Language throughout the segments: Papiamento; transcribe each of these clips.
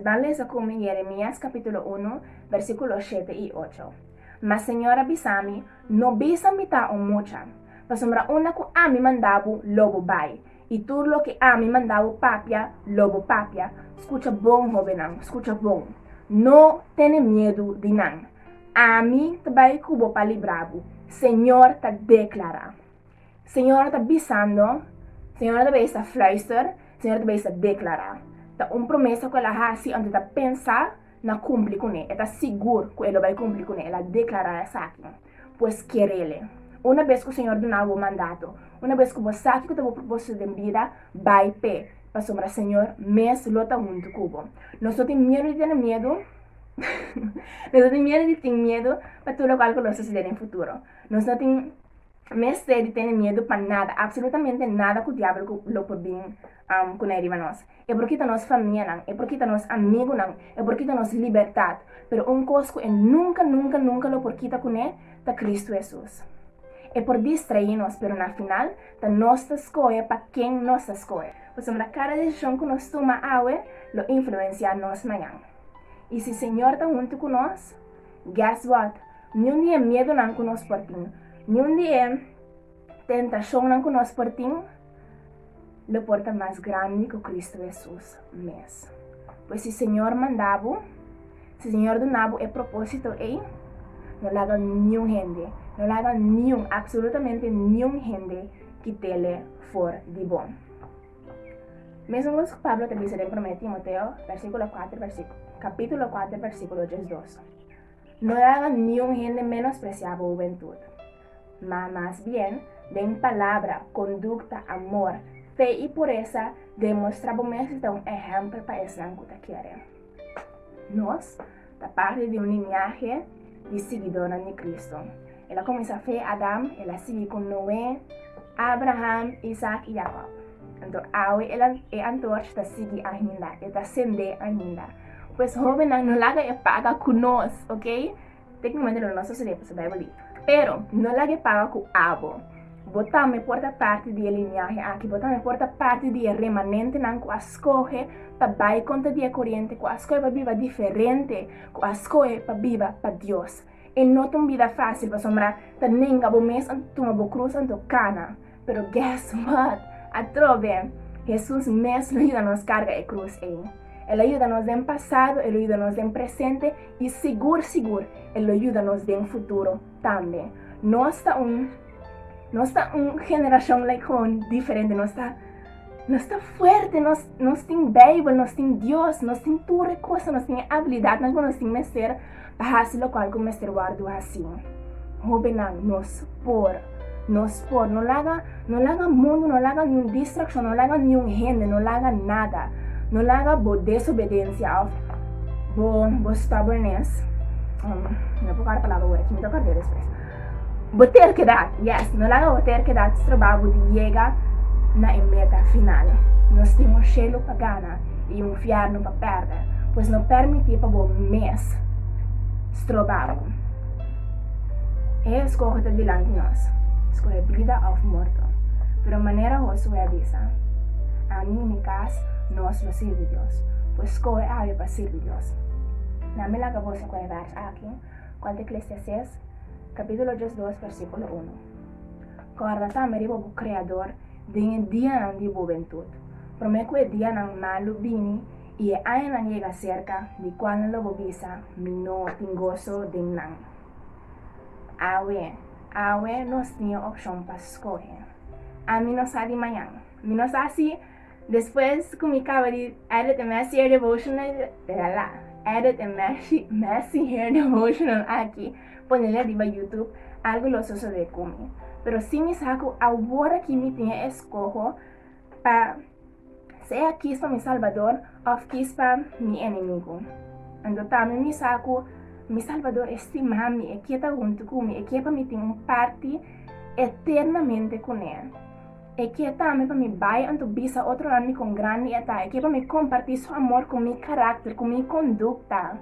Nan lesa cu mi Jeremias capitulo uno, versículo shete i ocho. Ma Señor a bisa mi, No bisa mi ta un mucha, pasobra unda cu ami manda bo, lo bo bai, i tur loke ami manda bo papia, lo bo papia. Scucha bon, hobennan, scucha bon! No tene miedu di nan. Ami ta bai cu bo pa libra bo, Señor ta declara. Señora ta bisando, Señora ta bay sa fluister, Señora ta bay sa declara. Ta un promesa cu el a haci anto e ta pensa na cumpli cune. E ta sigur cu e lo bay cumpli cune. El a declara esaki. Pues kerele. Una bes cu Señor duna bo mandato, una bes cu bo sa kico ta bo proposito den bida, bay p'e, pasobra Señor mes lo ta hunto cu bo. Nos no tin miedo di tene miedo, nos no tin miedo di tin miedo pa tur locual cu lo sucede den futuro. Nos no tin. Mester di tene miedu pa nada, absolutamente nada cu diablo lo por bin cu nae riba nos. E por kita nos famianan, e por kita nos amigunan, e por kita nos libertad, pero un cos cu e nunca, nunca, nunca lo por kita cu ne ta Cristo Jesus. E por distraí nos, pero na final ta nos ta scohe pa ken nos ta scohe. Pasobra cada decision cu nos tuma awe lo influencia nos mañan. Y si Señor ta hunto cu nos. Guess what? Niun di e miedunan ku nos por tin, niun di e tentashonnan ku nos por tin, lo por ta mas grandi ku Kristu Hesus mes. Pues si Señor manda bo, si Señor duna bo e propósito ei, no laga niun hende, no laga niun, absolutamente niun hende kit'ele for di bo. Mesmos ku Pablo ta bisa den Promé Timoteo, versíkulo kuater versíkulo kapítulo kuater versíkulo diesdos, No e haga niun hende menospresiá bo hubentut, ma mas bien den palabra, kondukta, amor, fe i puresa demostrá bo mes di ta un ehèmpel pa esnan ku ta kere nos. ta parti di un liniahe di siguidónan di Kristu. El a kuminsá fe Adam, el a sigui ku Noe, Abraham, Isak i Jakòb. Anto awe el a, e antorch ta sigui ainda, e ta sendé ainda. Pues hóbennan, no laga e paga ku nos, oke? Téknikamante lo nos ta studia pues Beibel di, pero no laga e paga ku abo. Bo tambe por ta parti di e liniahe aki. Bo tambe por ta parti di e remanentenan ku a skohe pa bai kontra di e koriente, ku a skohe pa biba diferente, ku a skohe pa biba pa Dios. E no ta un bida fásil, pasobra ta nenga bo mes anto tuma bo krus anto kana. Pero guess what? Atrobe, Hesus mes lo yuda nos karga e krus ei. El a yuda nos den pasado, el lo yuda nos den presente i sigur sigur el lo yuda nos den futuro. Tambe, nos ta un, nos ta un generashon like gewoon diferente. Nos ta, nos ta fuerte, nos, nos tin Bijbel, nos tin Dios, nos tin tur e kosa, nos tin e abilidatnan ku nos tin mester pa hasi lokual ku mester wòrdu hasí. Hóbennan, nos por, nos por. No laga. No laga mundu, no laga niun distraccion, no laga niun hende, no laga nada. No laga bo desobedencia of bo bo stubbornness, um, no por kara palabra awor aki, mi ta kard'é despues. Bo terkedad, yes, no laga bo terkedad stroba bo di yega na e meta final. Nos tin un shelu pa gana i un fièrnu pa pèrdè, pues no permití pa bo mes stroba bo. E eskohe ta dilanti nos, skohe bida òf morto. Pero manera Hosué a bisa, Ami i mi kas, nos lo sirbi Dios. Pues skohe awe pa sirbi Dios. Na mi laga boso ku e bèrs aki, ku al ta Eklesiastes, kapítulo diesdos, versíkulo unu. Kòrda tambe riba bo Kreador den e dianan di e bobentut, promé ku e dianan malu bini, I e añanan yega serka di kua nan lo bo bisa mi no tin goso den nan. Awe, awe nos tin e opshon pa skohe. Ami no sa di mañan. Mi no sa si despues ku mi kaba di Edit e Mèsi Hair Devotional, lala, Edit e Mèsi Mèsi Hair Devotional aki, pone la riba YouTube, algu lo sosodé ku mi. Pero si mi sa ku awor aki mi tin e eskoho pa. Sea kis ta mi Salbador òf kis ta mi enemigu. Ando ta mi mi sa ku mi Salbador e stima mi, e ke ta huntu ku mi, e ke pa mi tin un parti eternamente kuné. E ke tambe pa mi bai anto bisa otronan mi kon grandi e ta, e ke pa mi kompartí su amor ku mi karakter, ku mi kondukta.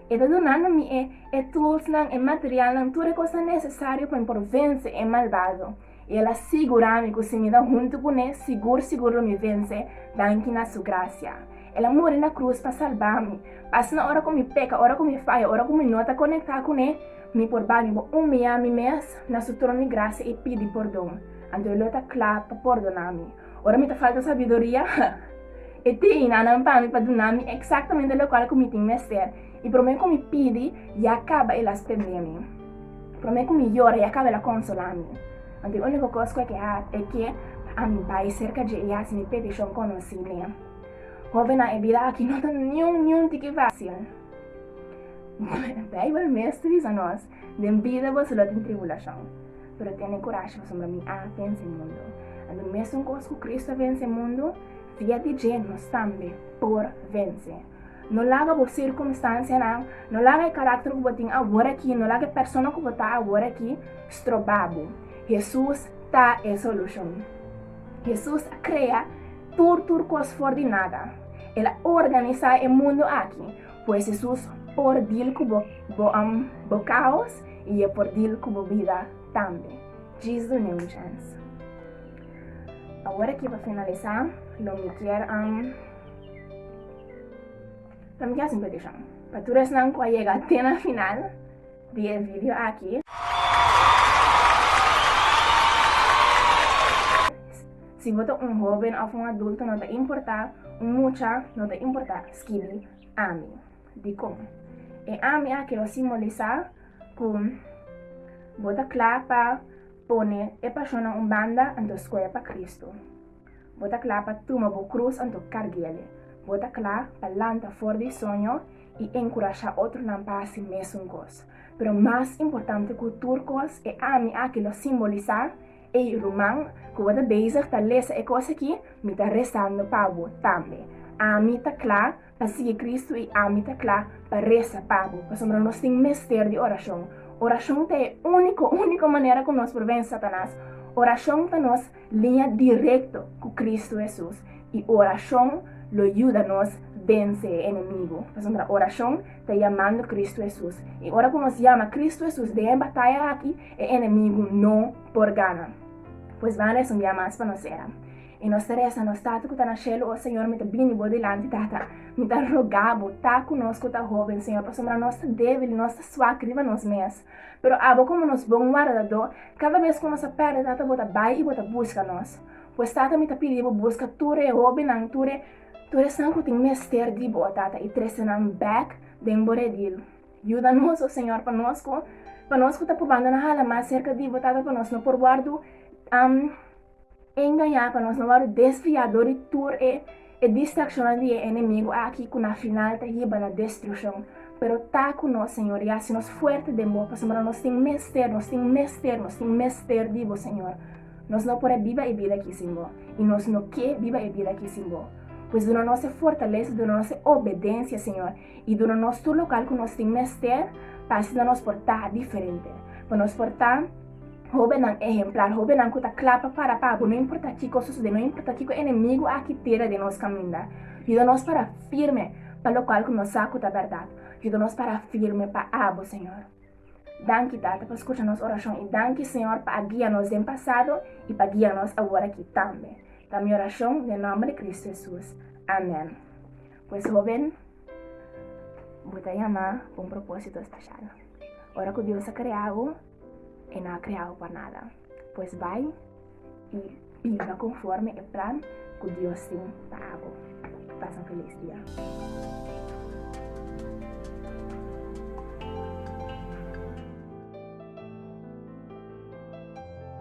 E ta dunando mi e e tulsnan, e materialnan, tur e kosnan nesesario pa mi por vense e malbado. i el a sigurá mi ku si mi ta huntu ku ne, sigur sigur lo mi vense, danki na su grasia. El a muri na krus pa salbá mi, pa asina ora ku mi peka, ora ku mi faya, ora ku mi no ta konektá ku ne, mi por bai, mi por umiyá mi mes na su tron di grasia i pidi pordon. Anto el lo ta kla pa pordoná mi. Ora mi ta falta sabiduria, e tin i nanan pa mi pa duna mi eksaktamente lokual ku mi tin mester. I promé ku mi pidi, ya kaba el a stendé mi. Promé ku mi yora, ya kaba el a konsolá mi. Anto e úniko kos ku e ke hat e ke pa ami bai serka dje i hasi mi petishon konosí n'e. Hóvennan, e bida aki no ta niun, niun tiki fásil. Beibel mes ta bisa nos, Den bida boso lo tin tribulashon. Pero tene kurashi, pasobra mi a vense mundu. Anto, mesun kos ku Kristu a vense mundu, fia di dje nos tambe por vense. No laga bo sirkumstansianan, no laga e karakter ku bo tin awor aki, no laga e persona ku bo ta awor aki stroba bo. Hesus ta e solushon. Hesus a krea tur tur kos for di nada. El a organisá e mundu aki. Pues Hesus por dil ku bo boan, bo kaos i e por dil ku bo bida tambe. Djis dune un chèns. Awor aki pa finalisá lo mi kier. Ta mi haci un peticion pa tur esnan cu a yega te na final di e video aki. Si bo ta un hoben of un adulto no ta importa, un mucha no ta importa, skibi Ami. Dicon? E Ami aki lo simbolisa cu bo ta cla pa pone e pasionnan un banda anto scoe pa Cristo. Bo ta kla pa tuma bo krus anto karguele. Bo ta kla pa lanta for di soño i enkurashá otronan pa hasi mesun kos. Pero mas importante ku tur kos e ami aki lo simbolisá. Ey ruman ku bo ta bezig ta lesa e kos aki, mi ta rezando pa bo tambe. Ami ta kla Pa sigui Kristu i ami ta kla pa resa pa bo, pasobra nos tin mester di orashon. Orashon ta e úniko, úniko manera ku nos por vense Satanas. Orashon ta nos liña direkto ku Kristu Hesus, i orashon lo yuda nos vense e enemigu, pasobra orashon ta yamando Kristu Hesus. I ora ku nos yama Kristu Hesus den e bataya aki, e enemigu no por gana. Pues ban resondia mas pa nos sera. I nos ta resa, Nos Tata ku ta na shelu, o señor, mi ta bini bo dilanti, Tata. Mi ta rogá bo, ta ku nos ku ta hóben, señor, pasobra nos ta débil i nos ta swak riba nos mes. Pero abo, komo nos bon wardadó, kada bes ku nos a pèrdè, Tata, bo ta bai i bo ta buska nos. Pues, Tata, mi ta pidi bo, buska tur e hóbennan, tur e, tur esnan ku tin mester di bo, Tata, i trese nan bèk den bo redil. Yuda nos, o señor, pa nos ku, pa nos ku ta probando na hala mas serka di bo, Tata, pa nos no por wòrdu. E engañá pa nos no wòrdu desviá dor di tur e e distrakshonnan di e enemigu aki ku na final ta hiba na destrukshon. Pero ta ku nos, Señor, i hasi nos fuerte den Bo, pasobra nos tin mester, nos tin mester, nos tin mester di Bo, Señor. Nos no por a biba e bida aki sin Bo, i nos no ke biba e bida aki sin Bo. Pues duna nos e fortalesa, duna nos e obedensia, Señor, i duna nos tur lo kal ku nos tin mester pa asina nos por ta diferente, pa nos por ta hóbennan ehemplal, hóbennan ku ta kla pa para pa abo, no importá kiko sosodé, no importá kiko enemigu a kitera den nos kaminda. Yuda nos para firme pa lokual ku nos sa ku ta bèrdat. Yuda nos para firme pa abo, señor. Danki, Tata, pa skucha nos orashon i danki, señor, pa a guia nos den pasado i pa guia nos aworakí tambe. Ta mi orashon den nòmber di Kristu Hesus. Amèn. Pues hoben, bo ta yamá pa un propósito speshal. Ora ku Dios a krea bo, e no a krea bo pa nada. Pues bai i biba konforme e plan ku Dios tin pa abo. Pasa un felis dia.